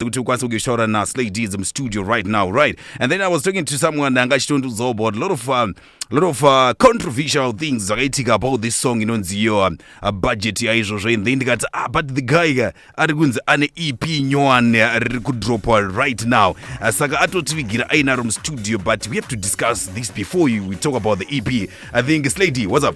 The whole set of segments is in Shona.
kuti ukwanise kugeshora na slay deeds mustudio right now right and then i was talking to someone anga achitondiudzawo about a lot of um, a lot of uh, controversial things zvakaitika about this song inonziyo um, uh, budget yaizvozvo and then ndikati ah, but the guy ka ari kunzi ane ep nyowani uh, riri kudropwa right now uh, saka atotivigira ainaro mustudio but we have to discuss this before you, we talk about the ep i think slay d what's up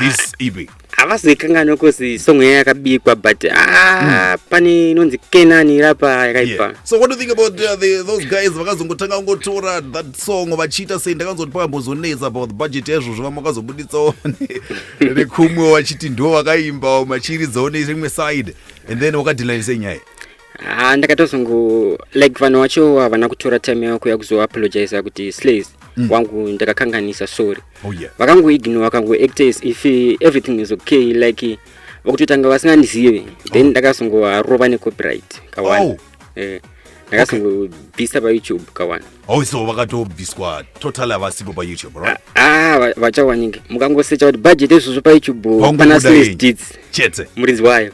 this ep havazoikanganwe cause song yaya yakabikwa but ah, pane inonzi kenani irapa yakaipa Yeah. so what do you think about uh, the, those guys vakazongotanga kungotora that song vachiita sei ndakanzoti pakambozonetsa about the budget yaizvozvo vamwe vakazobuditsawo ne- nekumwe vachiti ndo vakaimba machiridzawo neimwe side and then wakadilani sei nyaya Ah, ndakatozongo like vanhu wacho havana kutora time yavo kuya kuzoapologiza kuti slays mm. wangu ndakakanganisa sorry oh, yeah. vakangoignore vakangoacta as if everything is okay like vakutotanga vasingandizive then oh. ndakazongovarova necopyright kawana oh. eh, ndakazongobvisa okay. payoutube kawana oh, so vakatobviswa total havasipo payoutube right? ah, ah vachawanike mukangosecha kuti budget ezvozvo payoutube pana slays deeds chete muridzi wayo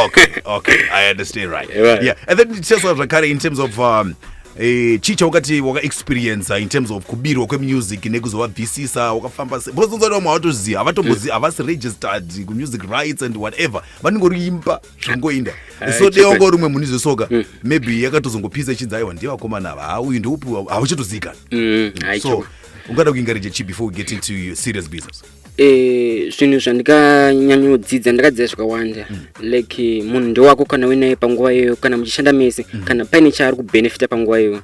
okay okay i understand right, right. yeah and then ticheswa zvakare in terms of um, Eh, chii chaukati wakaexperienca in terms of kubirwa kwemusic nekuzovabvisisa wakafamba se because unzati vamwe havatoziva havatombozi eh. havasi registered kumusic rights and whatever vanenge uri imba zvingoinda eh, so dei wanga uri umwe muni zvesoka hmm. maybe yakatozongopisa ichinzi aiwa ndiye vakomana ava hauyu ndiupi hauchatoziikana hmm, so ungada kuingarija chi before we get into serious business Eh, zvinhu zvandikanyanyodzidza ndakadzidza zvakawanda mm. like munhu ndewako kana uinaye panguva iyoyo kana muchishanda mese mm. kana paine chaari kubenefita panguva iyoyo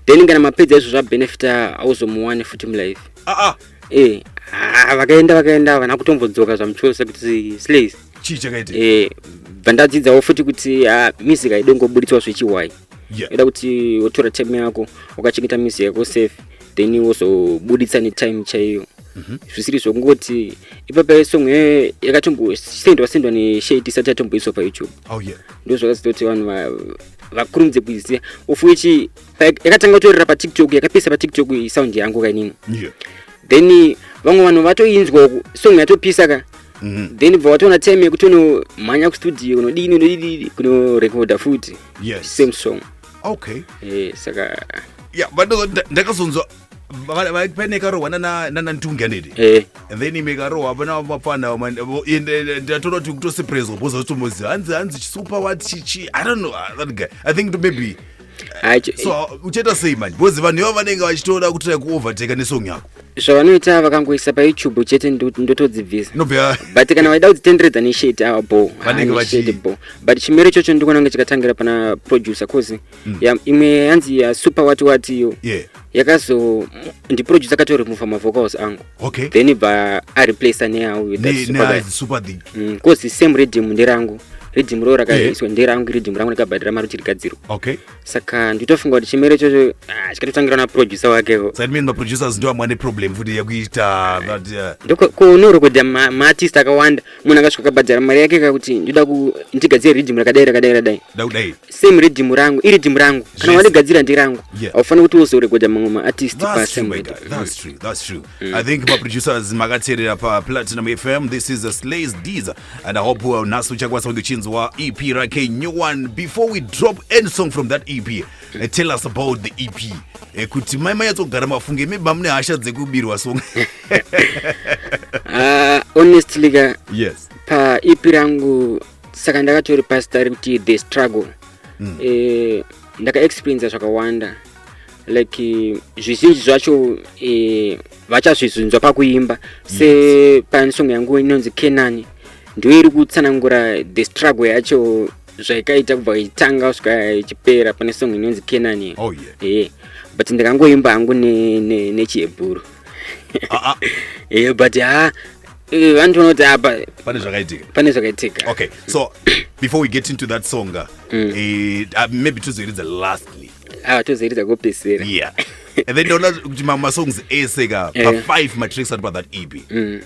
then kana mapedza izvo zvabenefita auzomuwane futi mulife ah, ah. Eh, ah, vakaenda vakaenda vana kutombodzoka zvamuchosa kuti slays chii chakaita eh, bva ndadzidzawo futi kuti ah, music haidongoburitswa zvechiwai yeah. ida kuti wotora time yako ukachengeta mizi yako safe then wozobuditsa netime chaiyo mhm. zvisiri zvokungoti ipapa song yayo yakatombosendwa sendwa neshade isati yatomboiswa payoutube oh, ndo zvakazitoti vanhu vakurumidze kuiziva of which yakatanga kutorera patiktok yakapesa patiktok sound yangu kainini then vamwe vanhu vatoinzwa uku song yatopisa ka mhm. then bva watoona time yekuti unomhanya kustudio kunodini unodii kunorekodha futi yes. same song okay eh, saka ya ndakazonzwa pane karohwa nanantungi anidi eh. and then ime karohwa pana mapfana ndatoda kuti kutoseprezwa bhoza zvotomoziva hanzi hanzi chisupa wat chichi i don't know that guy i think maybe so uh, uchaita sei manje because vanhu iva vanenge vachitoda kutira kuovertake nesong yako zvavanoita vakangoisa payoutube chete ndotodzibvisa but kana vaida kudzitenderedza nesheti ava bo bo but chimero chocho ndikuona kunge chikatangira pana producer cause mm. imwe yanzi yasuper wati wati iyo yakazo ndiproduce akatoremova mavocals angu okay. then ibva areplace neausuper thing bcause mm, same redium nderangu redium roo rakaiswa eh. nderangu redium rangu ndakabhadhira mari kuti rigadzirwa okay. saka nditofunga kuti chimere chocho ah, chikatotangira naproducer wakevo kunorekodha eh, uh, maartist akawanda munhu akasvika akabhadhara mari yake kakuti ndoda ndigadzire redium rakadai rakadai rakadai same rhythm rangu iri rhythm rangu kana yes. wandigadzira ndirangu yeah. aufani kuti wozoregoda mamwe maartist pasame mm. i think maproducers makateerera paplatinum fm this is a slays dees and i hope uh, nhasi uchakwanisa kunge uchinzwa ep rake new one before we drop any song from that ep mm. uh, tell us about the ep eh, kuti mai mayatsogara mafunge maybe mamune hasha dzekubirwa song uh, honestly ka yes. paep rangu uh, saka ndakatori pasta rekuti the struggle mm. eh, ndakaexperiensa zvakawanda like eh, zvizhinji zvacho eh, vachazvizunzwa pakuimba se yes. pane song yangu inonzi kenani ndiyo iri kutsanangura the struggle yacho zvaikaita kubva itanga kusvika ichipera pane song inonzi kenani oh, yeah. yeah. but ndikangoimba hangu nechihebhuru ne, ne ah, ah. yeah, but ha ah, Eh, vanhu vanoti apa pane zvakaitika pane zvakaitika okay so before we get into that song uh, mm. uh, maybe tozoiridza lastly awa ah, tozoiridza kopesera yeah and then ndaona kuti mamwe masongs ese ka eh. pafive matricks ari pathat ep mm.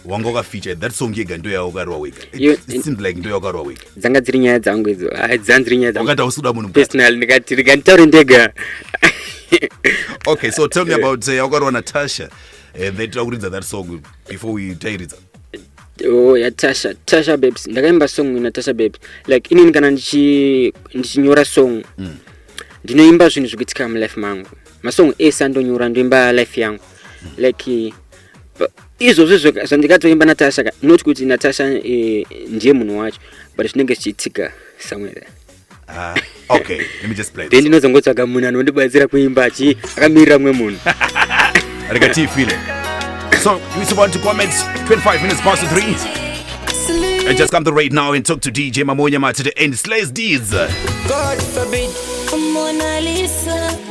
wanga wakafeature that song yega ndo yaukarwa wega seems like ndo yaukarwa wega dzanga dziri nyaya dzangu idzo ah, dzanga dziri nyaya dzangu usikuda munhu personal ndikati rega nditaure ndega okay so tell me about uh, yaukarwa natasha Eh, they try kuridza that song before we tairidza oh ya tasha tasha babes ndakaimba song ina tasha babes like inini kana ndichi- ndichinyora song Mm. ndinoimba zvinhu zvikuitika mulife mangu masong ese andonyora ndoimba life yangu like pa- izvozvi zvoka- zvandikatoimba natasha ka- not kuti natasha eh, ndiye munhu wacho but zvinenge zvichiitika somewhere there Ah, okay, let me just play. Then ndinozongotsvaga munhu anondibatsira kuimba achi akamirira mwe munhu. Rega tii feeling. So, you still want to comment 25 minutes past 3. And just come to right now and talk to DJ Mamonya Matete and Slays Deeds. God forbid. Mona Lisa.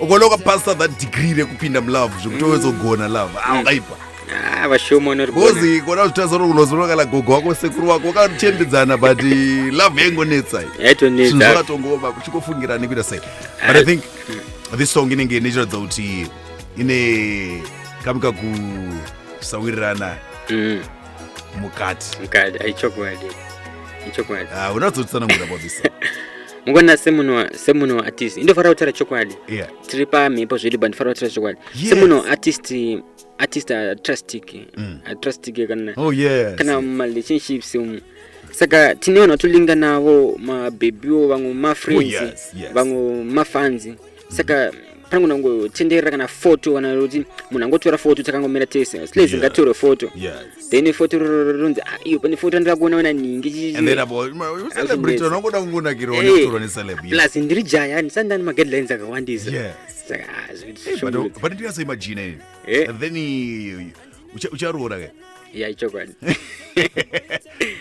ukaona ukapasa that degree rekupinda mulove zvekuti wezogona love aungaipa Ah, vashoma vanorigona bhozi kona zvitaza kuti unozorora kana gogo wako sekuru wako wakachembedzana but eh, love yaingonetsa iyi. zvinhu yaitonetsa zvakatongoma kuchikofungira nekuita sei but i think this song inenge ichiratidza kuti ine kamuka kusawirirana Mm, mukati mukadi aichokwadi ichokwadi Ah, unatsotisanangura about this song mukona semunhu semunhu artist indofanira kutaura chokwadi yeah. tiri pamhepo zvedu but ndifana kutaura chokwadi yes. semunhu artist artist atrustic mm. atrustic kana oh, yes. kana marelationships um, saka tine vanhu vatolinga navo mabhebhiwo vamwe mafriends oh, yes, yes. vamwe mafanzi saka pangu nangotenderera kana foto kana kuti munhu angotora foto takangomira tese slez ngatore foto then ifoto ronzi ah, iyo pane foto andira kuona ona ningi plus ndiri jaya ndisandani maguidelines akawandisa saka ah, ucha- ucharoora ka ya ichokwadi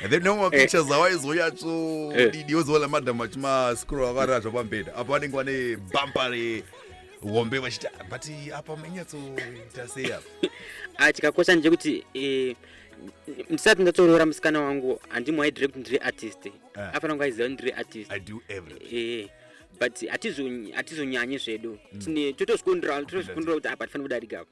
And then no mapictures awaizonyatso Eh. didi wozoona madam vachimascroll akarara zvapambeda apa vanenge vane bhampa rehombe vachiti "Ah, but apa manyatsoita sei apa Ah, chikakosha ndechekuti eh, ndisati ndatoroora musikana wangu handimuaidire kuti ndiri artist Ah. afana kunge aiziva kuti ndiri artist i do everything Eh, but hatizonyanyi zvedu Tine- totozvikundira totozvikundira kuti apa tifanira kudarika apa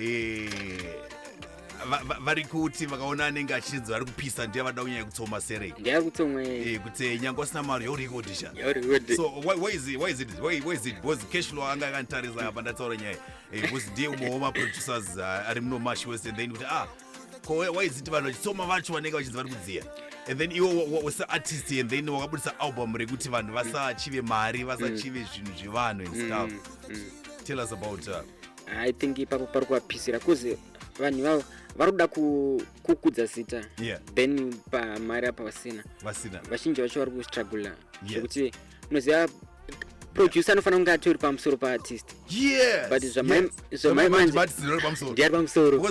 Eh, va- va- vari kuti vakaona anenge achinzi vari kupisa ndiye vada kunyanya kutsoma serei ndiyari kutsomwe Eh, kuti nyangwe asina mari yaurikodisha yauriwede so why, why is it why is it why, why is it because cash flow anga akanditarisa apa ndataura nyaya Eh, because ndiye umwe wema producers ah, ari muno mash west and then kuti ah ko why- why is it vanhu vachitsoma vacho vanenge vachinzi vari kudziya and then iwo wa- wa- wasa artist and then wakabudisa album rekuti vanhu vasachive mari vasachive zvinhu zvevanhu and stuff tell us about uh, i think ipapo pari kuvapisira kuze vanhu vavo vari kuda kukudza zita yeah. then pamari apa vasina vasina vazhinji vacho vari kustrugula zvekuti yeah. unoziva producer anofanira kunge atori pamusoro paartist but zvamaimandiari pamusoro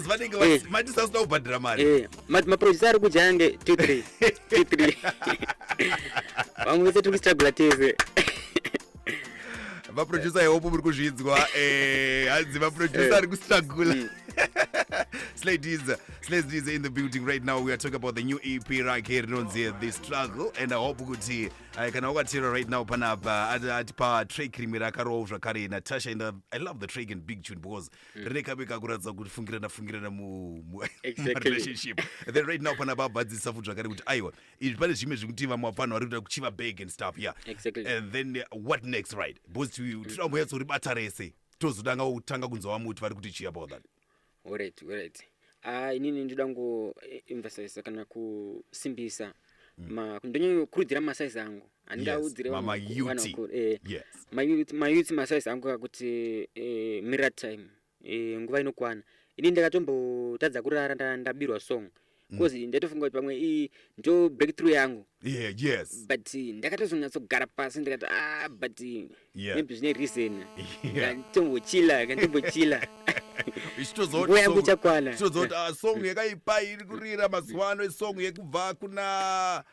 maproducer ari kudya ange two three two three vamwe vese tiri kustrugula tese vaproducer ihope muri kuzvinzwa eh, hanzi vaproducer eh. ari kustragula mm. Slay Diza, Slay Diza in the building right now. We are talking about the new EP right here, Nonzi, The Struggle. And I hope kuti uh, kana wakatira right now panapa atipa track rimwe rakarowa zvakare Natasha and uh, I love the track and Big Tune because mm. rine kabe kakuratidza kuti fungirana fungirana mu relationship. Then right now panapa abvadzisa futi zvakare kuti aiwa izvi pane zvimwe zvekuti vamwe vafanha vari kuda kuchiva bag and stuff yeah exactly. and then uh, what next right because tinoda kunyatso ribata rese tozotanga kutanga kunzwa vamwe kuti vari kuti chii about that alright alright ah inini ndoda ngo eh, emphasize kana kusimbisa mm. ma ndonyo kurudzira ma size angu andinga Yes, udzire ma- ma youth. Yes. mayouth ma size angu kuti eh, mirror time e, nguva inokwana ini ndakatombotadza kurara nda, ndabirwa song bcause mm. ndaitofunga kuti pamwe ii ndo breakthrough yangu yeah, yes. but eh, ndakatozonyatsogara pasi ndikati ah but eh, yeah. maybe zvine reason yeah. kantombochila kantombochila nguva yangu ichakwana zvichitozoti ah, song yakaipa iri kurira mazuva ano isong yekubva kuna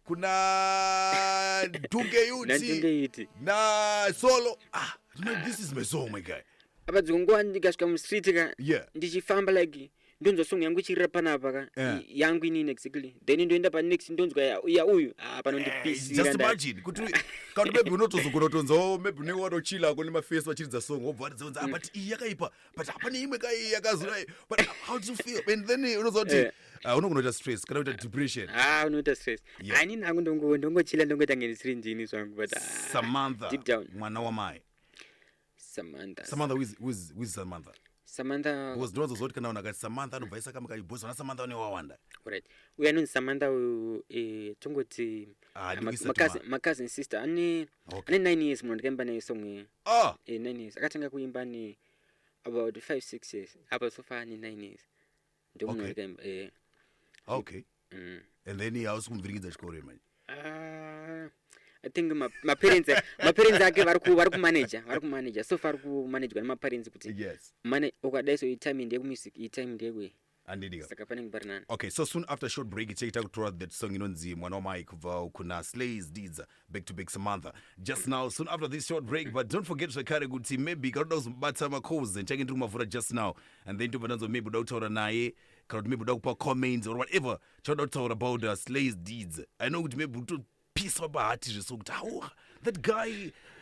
kuna dungeyuti na solo ah, you know, this is my song my guy apa dzimwe nguva ndikasvika mustreet ka yeah. ndichifamba like ndonzwa song yangu ichirira panapa ka yeah. yangu inini exactly then ndoenda panext ndonzwa ya uyu ah, panondipisiraabebi unotozogona tonzwawo maybe unenge watochila ko nemafesi vachiridza song wobva watidzaunza ah, mm. but iyi yakaipa but hapane imwe ka iyi yakazura but how do you feel and then unonzwa kuti eh. ah, unogona kuita stress kana kuita depression ah unoita stress anini hangu ndongochila ndongoita nge ndisiri ndini zvangu but samantha mwana wamai samantha samantha who is- who is- who is samantha samantha because ndinozozwa kuti kana vanhu akati samantha anobva aisa kamwe kayi boys vana samantha vane wawanda right uyu anonzi samantha uyu eh, tongoti Ah, ah, ma- ndikuisa macousin- tuma. macousin sister ane Okay. ane nine years munhu ndikaimba naye song iyi ah eh, nine years akatanga kuimba ne about five six years apa sofa ane nine years ndomunoita imba eh okay mm. and then hausi kumuvhiringidza chikoro here manje Ah, i think ma- maparents maparents ake vari ku- vari kumanager vari kumanager so far kumanagerwa nemaparents kuti yes mana ukadai so itime ndeyekumusic itime ndeyekwe andidika saka panenge pari nani okay so soon after short break tichaita kutora that song inonzi mwana wamai kubva kuna slays didza back to back samantha just now soon after this short break but don't forget zvakare kuti maybe kana uda kuzomubata macalls ndichange ndiri kumavhura just now and then tobva tanzwa maybe uda kutaura naye kana kuti maybe uda kupa comments or whatever chauda kutaura about uh, slays deeds i know kuti maybe utopiswa pahati zveso kuti hauha that guy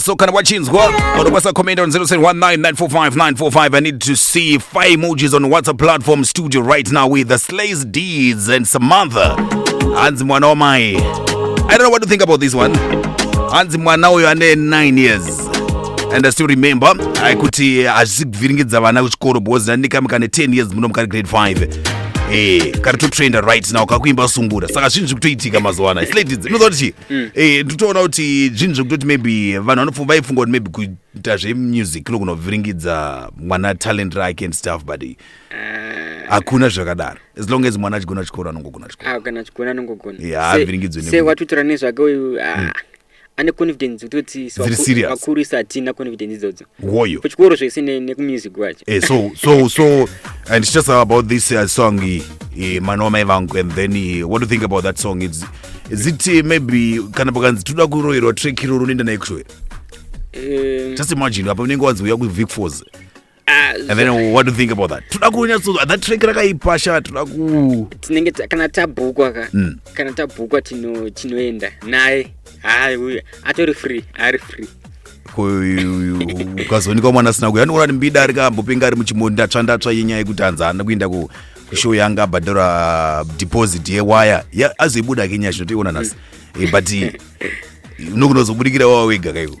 so kana wachinzwa unokwanisa comment on 0719945945 i need to see five emojis on whatsapp platform studio right now with the slays deeds and samantha hanzi mwana wamai i don't know what to think about this one hanzi mwana uyo ane 9 years and I still remember uh, kuti eh, hazvisi kuvhiringidza vana kuchikoro because ndandikami kane 10 years muno mukari grade 5 Eh, kari totrenda right now kakuimba sungura saka zvinhu zviri kutoitika mazuva ano isladies inoziva kuti chii mm. eh, nditoona kuti zvinhu zvekutoti maybe vanhu vaifunga kuti maybe kuita zvemusic kuno kunovhiringidza mwana talent rake and stuff but eh, hakuna zvakadaro as long as mwana achigona chikoro anongogona chikoro ah, kana chikoro anongogona yeah, avhiringidzwe sewatutirane zvake uyu ah. mm. ane confidence kutoti vakuru isa hatina confidence idzodzo woyo kuchikoro zvese nekumusik kwacho eh, so so so and it's just about this uh, song uh, eh, mwana wamai vangu and then uh, what do you think about that song it's, is it uh, maybe kana pakanzi toda kuroyerwa track iroro unoenda naye kushowera um, just imagine apa unenge wanzi uya kuvicfos Ah, and then what do you think about that toda kunyatso that track rakaipa sha toda ku tinenge ta- kana tabhukwa ka Mm. kana tabhukwa tino- tinoenda naye hayi uyu atori free ari free ku- ukazoonekwa mwana asina kuya anoona ndimbida ari kambopinga ari muchimondi ndatsva ndatsva yenyaya yekuti hanzi haana kuenda ku show yanga abhadhara deposit yewaya Ya- azoibuda ke nyaya zvinotoiona nhasi Eh, but nokunozobudikira wawa wega kaiko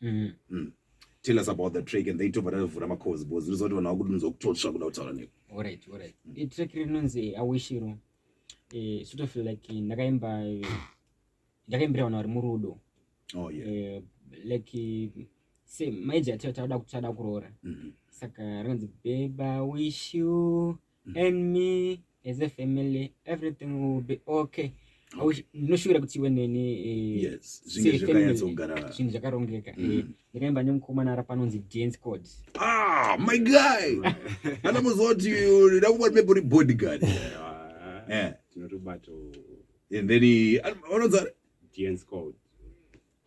mm-hmm. mm. tell us about the track and then tobva tavhura macoz bcause ndinoziva kuti vanhu vakudunzwa kutotsva kuda kutaura neku orit orit mm. itrack rinonzi awishiro eh, sort of like eh, ndakaimba eh, ndakaimbira vanhu vari murudo oh, yeah. like se maija tauda kuroora mm-hmm. saka rinonzi beba wishu and me as a family everything will be okay ndinoshuvira kuti iwe neni eh, zvinhu zvakarongeka eh, mm. ndakaimba nemukomana ara panonzi dance cod ah, my guy ana muziva kuti ndakuva maybe uri bodyguard eh. tinotobato and then anonzi dance cod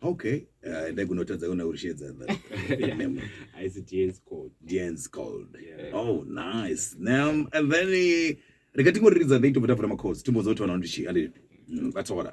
Okay, uh, endai kunotadza kuna Urishedza that name. Haisi Dian's Code. Dian's Code. Yeah. Oh, nice. Now, and then eh, rega tingoriridza then tobva tavhura macodes timbonzwa kuti vanhu vanoti chii ande mm, that's all.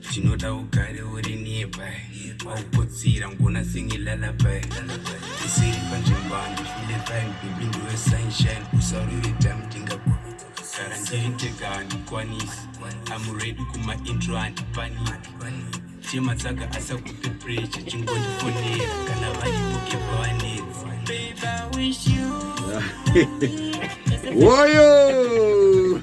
Chinoda ugare uri nearby Wauputsira ngona singi lullaby Isiri panzvimbo handifile fine Baby ndiwe sunshine Usarure time ndingakuita Sara ndiri ndega handikwanisi I'm ready kuma intro handipaniki Chema tsaka asakupe pressure Chingondifonera kana vaibuke pawanetsi Babe I wish you Woyo!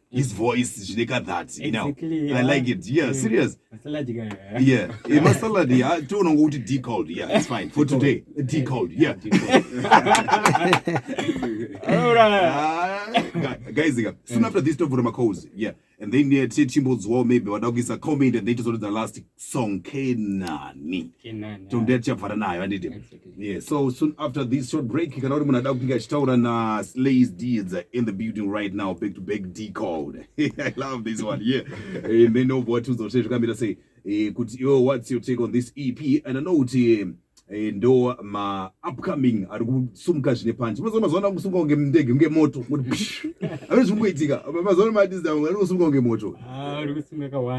his voice zvine ka that you know exactly, i like it yeah, yeah. serious salad guy yeah yeah my salad yeah to no go to d cold yeah it's fine for today d cold yeah all right ah, guys again soon after this to vura makozi yeah and then uh, chimbo zwo maybe wadakuisa comment and then to sort of the last song kenani tombea tichabvara nayo handiti yeah so soon after this short break kana uri munhu ada kunge achitaura na slays deeds in the building right now back to back d code i love this one yeah and then obva watiudza kuti zvakamira sei eh, kuti yo what's your take on this ep and i know kuti eh, eh, ndo ma upcoming ari kusumuka zvine panji mazuva mazuva ano kusumuka kunge ndege kunge moto ave zviri kuitika mazuva ano madizda ari kusumuka kunge moto ah,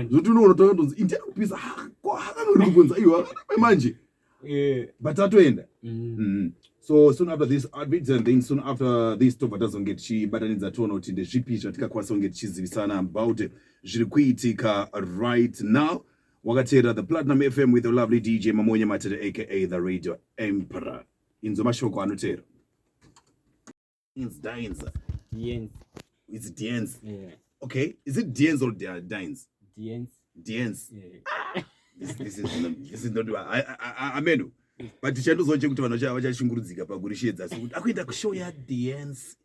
zvokuti unoona toa tonzi interi kupisa ah, ko hakanga uri kubvunza iwo akanape manje eh. but atoenda mm. mm-hmm. so soon after this advids and then soon after this tobva tazonge tichibatanidza toona kuti ndezvipi zvatikakwanisa kunge tichizivisa about zviri kuitika right now Wakateerera the Platinum FM with the lovely DJ Mamonya Matete aka the Radio Emperor. Inzo mashoko anoteera. Inz Dines. Diens. It's Diens. Yeah. Okay, is it Diens or Di- Dines? Diens. Diens. Yeah. This, this is not, this is not I, I, I, ameno. But tichaendozoche kuti vanhu vacha- vachashungurudzika pakurisheedza sekuti akuenda kushow ya Diens.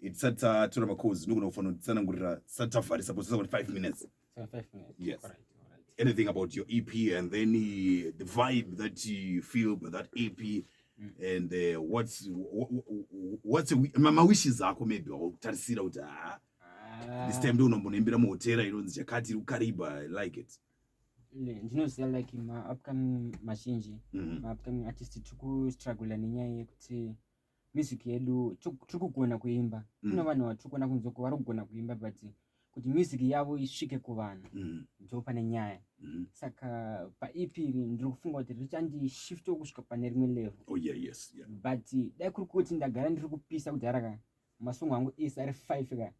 tisati tatora macoz nogona kufanira kutsanangurira tisati tavharisa bcause tisati 5 minutes yes anything about your ep and then uh, the vibe that you feel by that ep mm. and uh, what's what's mawishes ako maybe wakutarisira kuti haa ah, Ah. this time ndonombonoimbira muhotera inonzi chakati iri kukariba i like it ndinoziva like maupcoming mazhinji mhm. maupcoming artist tiri kustruggla nenyaya yekuti music yedu tiri kugona kuimba mm. kune vanhu vatiri kuona kunze ko vari kugona kuimba but kuti music yavo isvike kuvanhu mm. ndo pane nyaya mm. saka paep iri ndiri kufunga kuti richandishiftiwo kusvika pane rimwe level oh, but dai kuri kuti ndagara ndiri kupisa kudhara ka masongo angu ese ari five ka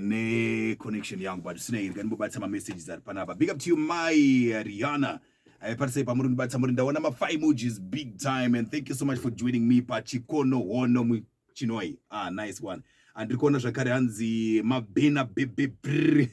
ne connection yangu but sina iri kani bobatsa ma messages ari panapa big up to you my Rihanna aiparisei eh, pamuri ndibatsa muri ndaona ma five emojis big time and thank you so much for joining me pachikono hono muchinoi ah nice one andiri kuona zvakare hanzi mabhena bebebr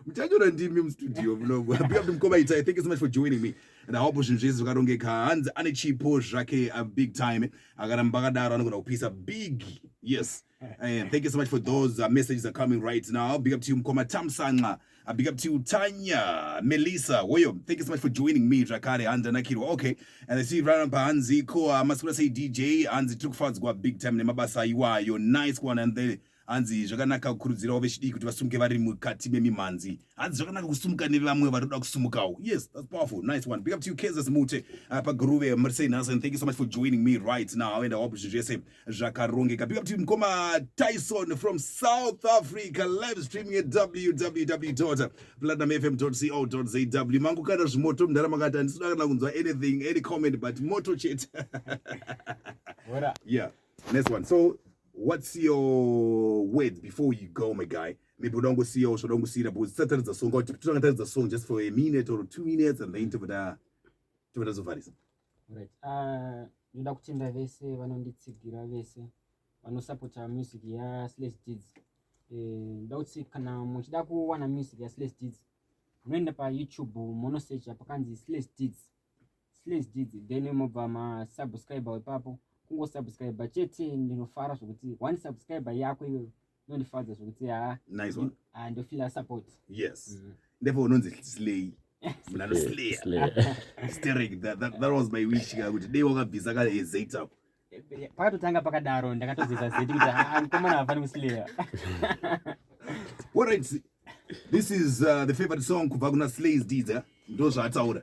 muchanyora ndimi mustudio munogo big up to mkoma itai thank you so much for joining me and awapo zvinhu zvese zvakarongeka hanzi ane chipo zvake a big time akaramba akadaro anogona kupisa big yes And thank you so much for those uh, messages are coming right now. Big up to you, Mkoma Tamsanga. Uh, big up to you, Tanya, Melissa, Woyo. Thank you so much for joining me, Drakare, Hanza Nakiro. Okay. And I see you right by Hanzi, Koa, uh, Masura say DJ, Hanzi took fans go big time, Nemabasa Iwa, your nice one, and then hanzi zvakanaka kukurudzirawo vechidiki kuti vasumuke vari mukati memimhanzi hanzi zvakanaka kusumuka nevamwe vari kuda kusumukawo yes that's powerful nice one big up to you kenzas mute uh, paguruve murisei nhasi and thank you so much for joining me right now and i hope zvese zvakarongeka big up to mkoma tyson from south africa live streaming at www platinumfm co za mangu kana zvimoto mndara makati handisina kana kunzwa anything any comment but moto chete yeah next one so what's your word before you go my guy maybe unoda kungosiya usvoda kungosiyira because tisataridza song kuti totanga taridza song just for a minute or two minutes and then tobata tobata zovharisa Alright. Uh, ndoda kutenda vese vanonditsigira vese vanosapota music yaSlash Deeds. Eh, ndoda kuti kana muchida kuwana music yaSlash Deeds munoenda paYouTube monosecha pakanzi Slash Deeds. Slash Deeds then mobva masubscriber ipapo kungosubscriber chete ndinofara zvokuti one subscriber yako iwewe inondifadza zvekuti ha nice one ah ndofila support yes mm. ndipo unonzi slay mna no slay sterek that, that that was my wish ka kuti dei wakabvisa ka ezeit up pakatotanga pakadaro ndakatozeza zeti kuti ha mkomana havani kuslaya all right this is uh, the favorite song kubva kuna slays dida ndozvaataura